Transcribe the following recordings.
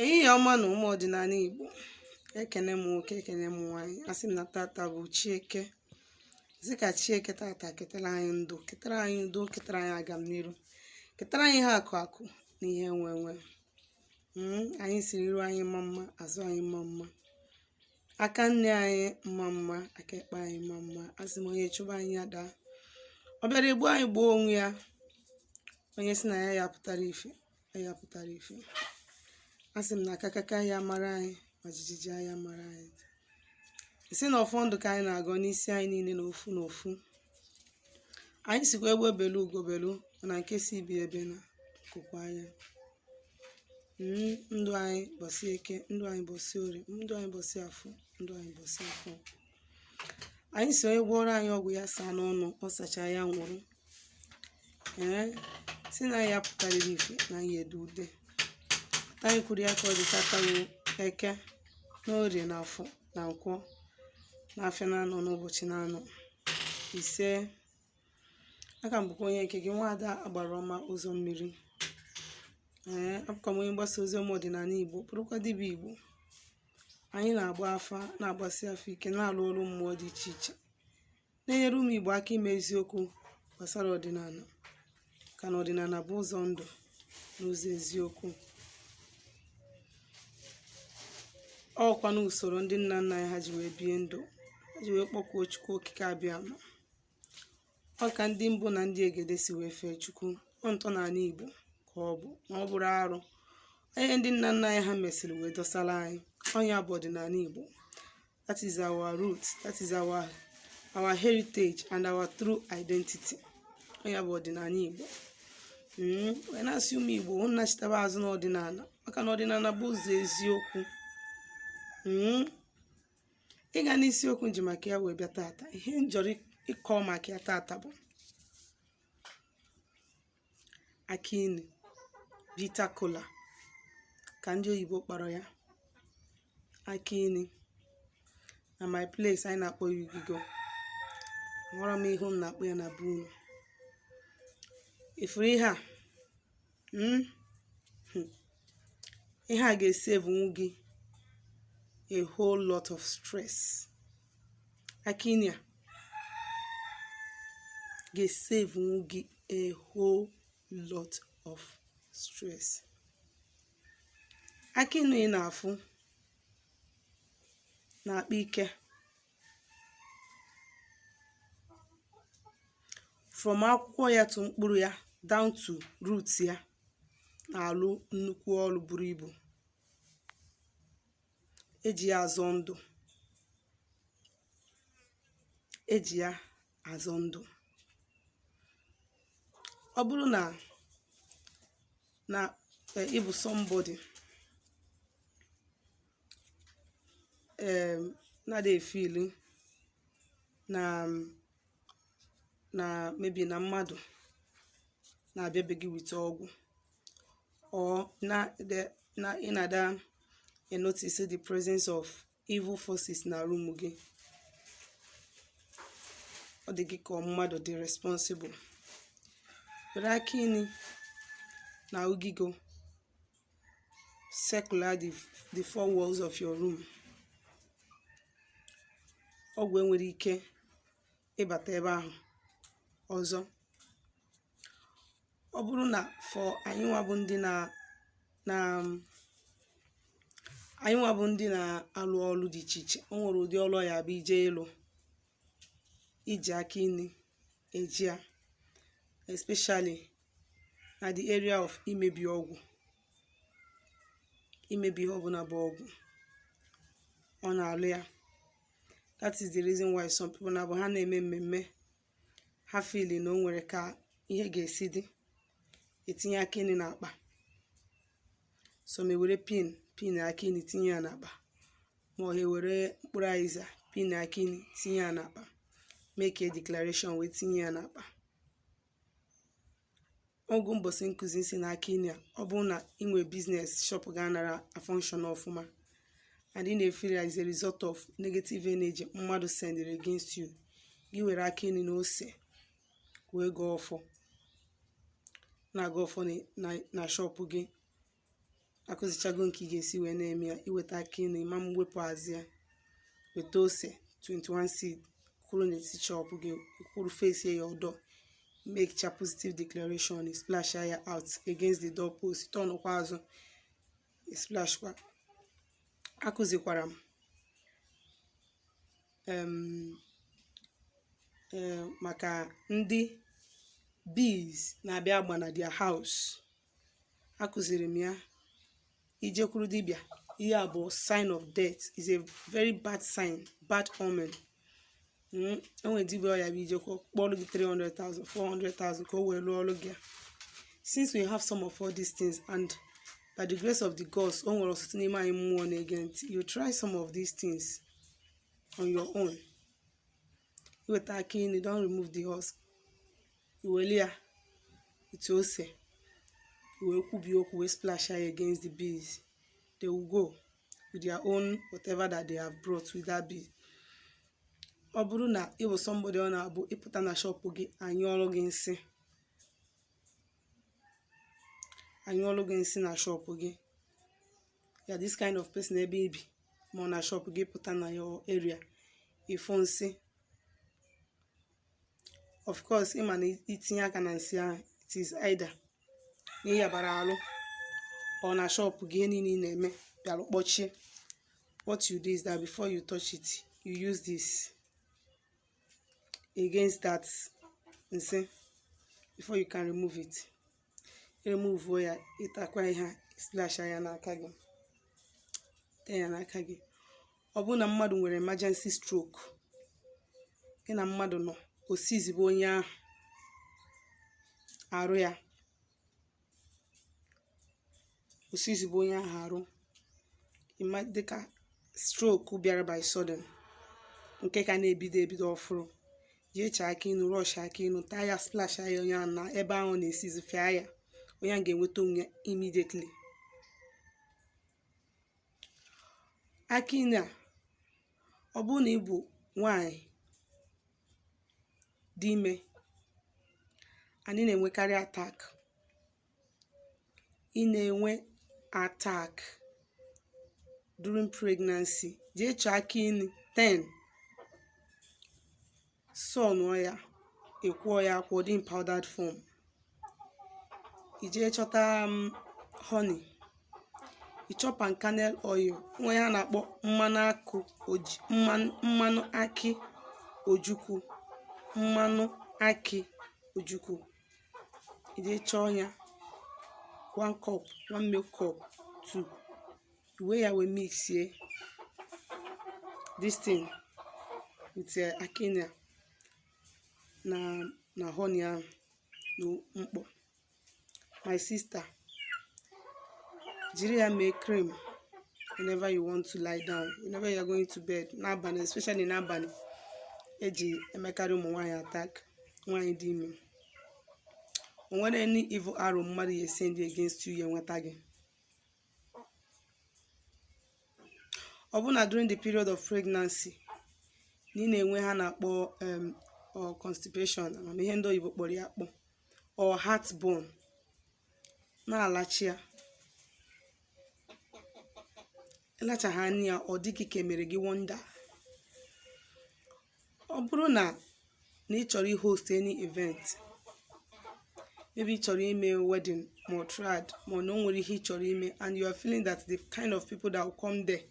ehihie ọma nụ ụmụ ọdịnala Igbo ekene m nwoke ekene m nwaanyị asị m na tata bụ chi eke sị ka chi eke tata ketara anyị ndụ ketara anyị udo ketara anyị agam n'iru ketara anyị ihe akụ akụ na ihe enwe enwe hmm, anyị siri iru anyị mma mma azụ anyị mma mma aka nne anyị mma mma aka ekpe anyị mma mma asị m onye chụba anyị adaa ọ bịara egbu anyị gbuo onwe ya onye si na ya ya pụtara ife anyị apụtara ife a sị m na akakaka ya mara anyị ma jijiji ya mara anyị si na ọfọ ndụ ka anyị na-agọ n'isi anyị niile n'ofu n'ofu anyị sikwa egbe belu ugo belu na nke si ibe ebena nku kwaa nya hmm, ndụ anyị mbọsị eke ndụ anyị mbọsị orie ndụ anyị mbọsị afọ ndụ anyị mbọsị afọ anyị si onye gwọrọ anyị ọgwụ ya saa n'ọnụ ọ sachaa ya nwụrụ ee si na ya pụtarịrị ife na anyị edu ude anyị kwuru ya ka ọ dị tata bụ eke na orie na afọ na nkwọ na afịa naanọ n'ụbọchị naanọ ise a ka m bụkwa onye nke gị nwaada agbara ọma ụzọ mmiri ee abụkwa m onye mgbasa ozi ọma ọdịnala igbo bụrụkwa dibịa igbo anyị na-agba afa na-agbasi afa ike na-alụ ọrụ mmụọ dị iche iche na-enyere ụmụ Igbo aka ịma eziokwu gbasara ọdịnala maka na ọdịnala bụ ụzọ ndụ na ụzọ eziokwu ọ bụkwa na usoro ndị nna nna anyị ha ji wee bie ndụ ha ji wee kpọkuo Chukwu okike abịama ọ ka ndị mbụ na ndị egede si wee fee chukwu ọ ntọala igbo ka ọ bụ na ọ bụrọ arụ ọ ihe ndị nna nna anyị ha mesịrị wee dọsara anyị ọ nya bụ ọdịnala igbo that is our root that is our our heritage and our true identity ọ nya bụ ọdịnala igbo mm, wee na-asị ụmụ igbo unu nachitaba azụ n'ọdịnala maka na ọdịnala bụ ụzọ eziokwu mm, ịga n'isiokwu m ji maka ya wee bịa tata ihe m chọrọ ịkọ maka ya tata bụ akị inu bitter kola ka ndị oyibo kpọrọ ya akị inu na my place anyị na-akpọ ya ugigo amarọ m ihe unu na-akpọ ya na be unu ị fụrụ ihe a hmm? Hmm. ihe a ga-esavenwu gị a whole lot of stress akị inu a ga-esavenwu gị a whole lot of stress akị inu ị na-afụ na-akpa ike from akwụkwọ ya to mkpụrụ ya down to root ya na-alụ nnukwu ọrụ buru ibu eji ya azọ ndụ eji ya azọ ndụ ọ bụrụ na ị bụ somebody um na-adị efeel na na maybe na mmadụ na-abịa be gị with ọgwụ or ị na-ada anotice the presence of evil forces na room gị ọ dị gị ka ọ mmadụ dị responsible were akị inu na ugigo circular the four walls of your room ọgwụ enwere ike ịbata ebe ahụ ọzọ ọ bụrụ na for anyị nwa bụ ndị na na anyị nwa bụ ndị na-alụ ọrụ dị iche iche o nwere ụdị ọrụ ọ ya-abụ ije ịlụ i ji akị inu eji ya especially na the area of imebi ọgwụ imebi ihe ọbụla bụ ọgwụ ọ na-alụ ya that is the reason why some people na-abụ ha na-eme mmemme ha feel na o nwere ka ihe ga-esi dị etinye akị inu n'akpa some ewere pin pin akị inu tinye ya n'akpa ma ọ ewere mkpụrụ azịza pin akị inu tinye ya n'akpa make a declaration wee tinye ya n'akpa o nwe mbọsị m kụzi sị na akị inu a ọ bụrụ na ị nwere business shop gị anara afunction ọfụma and ị na-efeel as a result of negative energy mmadụ sendịrị against you gị were akị inu na ose wee gọọ ọfọ na-agọ ọfọ na shop gị akụzichago nke ị ga-esi wee na-eme ya i weta akị inu ịma m wepụ azụ ya weta ose 21 seed kwụrụ n'etiti shop gị kwụrụ face your door make cha positive declaration ị splash ya out against the door post turn kwa azụ ị splash kwa akụzikwara m em, eh, maka ndị bees na-abịa agba na their house akụziri m ya i jekwuru dibịa ihe a bụ sign of death is a very bad sign bad omen Mm, o nwere dibịa ọ ya-abụ i jekwa kpọrọ gị 300,000 400,000 ka o wee lụọ ọrụ gị a. since we have some of all these things and by the grace of the gods o nwere ọtụtụ n'ime anyị mmụọ na-ege ntị you try some of these things on your own i weta akị inu don't remove the husk i weli ya ite ose i wee kwubi okwu wee splash ya against the bees they will go with their own whatever that they have brought with that bee ọ bụrụ na ị bụ somebody ọ na-abụ ị pụta na shọpụ gị a nyụọrọ gị nsị a nyụọrọ gị nsị na shọpụ gị ya this kind of person ebe i bi ma ọ na shop gị ị pụta na your area ị fụ nsị of course ị ma na i tinye aka na nsị ahụ it is either na ị yabara alụ or na shop gị ihe niile ị na-eme bịalụ kpọchie what you do is that before you touch it you use this against that nsị before you can remove it remuvuo ya ị takwa ihe a splash ya n'aka gị tee ya n'aka gị ọ bụrụ na mmadụ nwere emergency stroke gị na mmadụ nọ o sizibe onye ahụ arụ ya o sizibe onye ahụ arụ ị ma dịka stroke bịara by sudden nke ka na-ebido ebido ọfụrụ jee chọọ akị inu rush akị inu taa ya splash ya onye ahụ na ebe ahụ na-esizi fịa ya onye ahụ ga-enweta onwe ya immediately akị inu a ọ bụrụ na ị bụ nwanyị dị ime and ị na-enwekarị attack ị na-enwe attack during pregnancy jee chọọ akị inu 10 sọnụọ ya ị kwọọ ya akwọ dị in powdered form i jee chọta um, honey ị chọọ palm kernel oil nwa ya na-akpọ mmanụ akị ojukwu mmanụ akị ojukwu i jee chọọ ya one cup one milk cup two i wee ya wee mixie this thing with eh, akị inu a na honey ahụ na mkpọ my sister jiri ya mee cream whenever you want to lie down whenever you are going to bed n'abalị especially n'abalị e ji emekarị ụmụ nwaanyị attack nwaanyị dị ime o nwere any evil arrow mmadụ ya esend against you ya enweta gị ọ bụ na during the period of pregnancy na ị na-enwe ha na-akpọ em, ọ constipation ama m ihe ndị oyibo kpọrọ ya akpọ or heartburn na-alacha ya ịlachaghị anya ya ọ dị gị ka emere gị wonder ọ bụrụ na na ị chọrọ ihost any event maybe ị chọrọ ime wedding ma ọ trad ma ọ na o nwere ihe ị chọrọ ime and you are feeling that the kind of people that will come there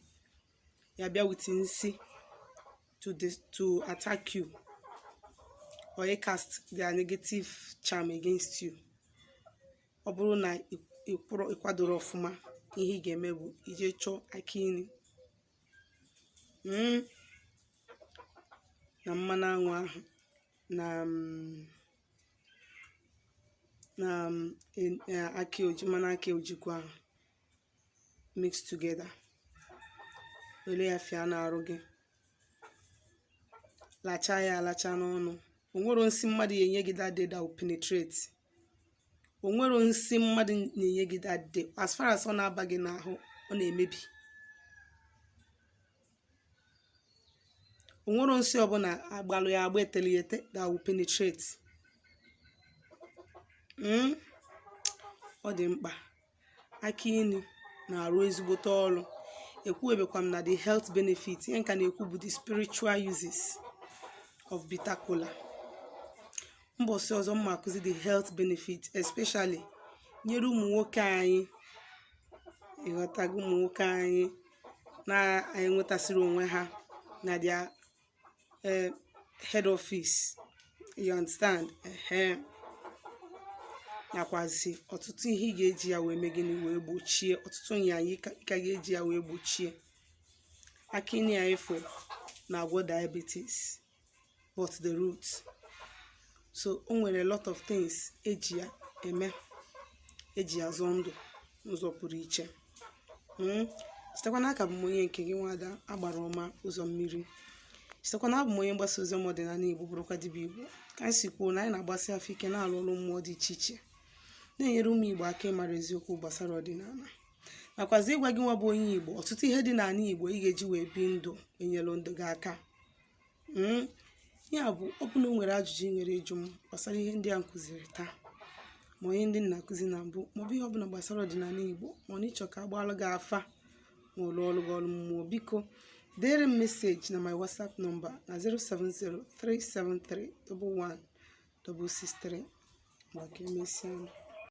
ya bịa with nsị to the to attack you or icast their negative charm against you ọ bụrụ na ịkwadoro ọfụma ihe ị ga-eme bụ ije chọọ akị inu hmm. na mmanụ anwụ ahụ na mm, na mm, e, e, akị oji mmanụ akị ojukwu ahụ mix together were ya fịa n'arụ gị lacha ya alacha n'ọnụ onwero nsị mmadụ ya enye gị that day that will penetrate onwero nsị mmadụ na-enye gị that day as far as ọ na-aba gị n'ahụ ọ na-emebi onwero nsị ọbụla agbalụ ya agba eteli ete that will penetrate hmm? ọ dị mkpa akị inu na-arụ ezigbote ọrụ ekwuebekwa m na the health benefit ihe m ka na-ekwu bụ the spiritual uses of bitter kola mbọsị ọzọ m ma akụzi the health benefit especially nyere ụmụ nwoke anyị ịghọtago ụmụ nwoke anyị na-enwetasịrị onwe ha na their uh, head office you understand uh-huh. nakwazi ọtụtụ ihe ị ga-eji ya wee mee gịnị wee gbochie ọtụtụ nyanya ị ka ga-eji ya wee gbochie akị inu a ịfụ na-agwọ diabetes but the root so o nwere a lot of things eji ya eme eji ya zọọ ndụ n'ụzọ pụrụ iche hmm? chetakwa na aka bụ m onye nke gị nwada agbara ọma ụzọ mmiri chetakwa na abụ m onye mgbasa ozi ọma ọdịnanị igbo bụrụkwa dibịa igbo ka anyị si kwuo na anyị na-agbasi afọ ike na-alụ ọlụ mmụọ dị iche iche na-enyere ụmụ igbo aka ịmara eziokwu gbasara ọdịnanị nakwazi ịgwa gị nwa bụ onye igbo ọtụtụ ihe dị n'anị igbo ị ga-eji wee bi ndụ enyelu ndụ gị aka Hmm? Ya bụ ọ bụ na o nwere ajụjụ ị nwere ịjụ m gbasara ihe ndị a m kụziri taa ma ọ ihe ndị m na-akụzi na mbụ maọbụ ihe ọbụla gbasara ọdịnala Igbo ma ọ na ị chọọ ka a gbaalụ gị afa ma ọ lụọlụ gị ọlụ mmụọ biko deere m meseji na my WhatsApp nọmba na 07037311163 ka emesịa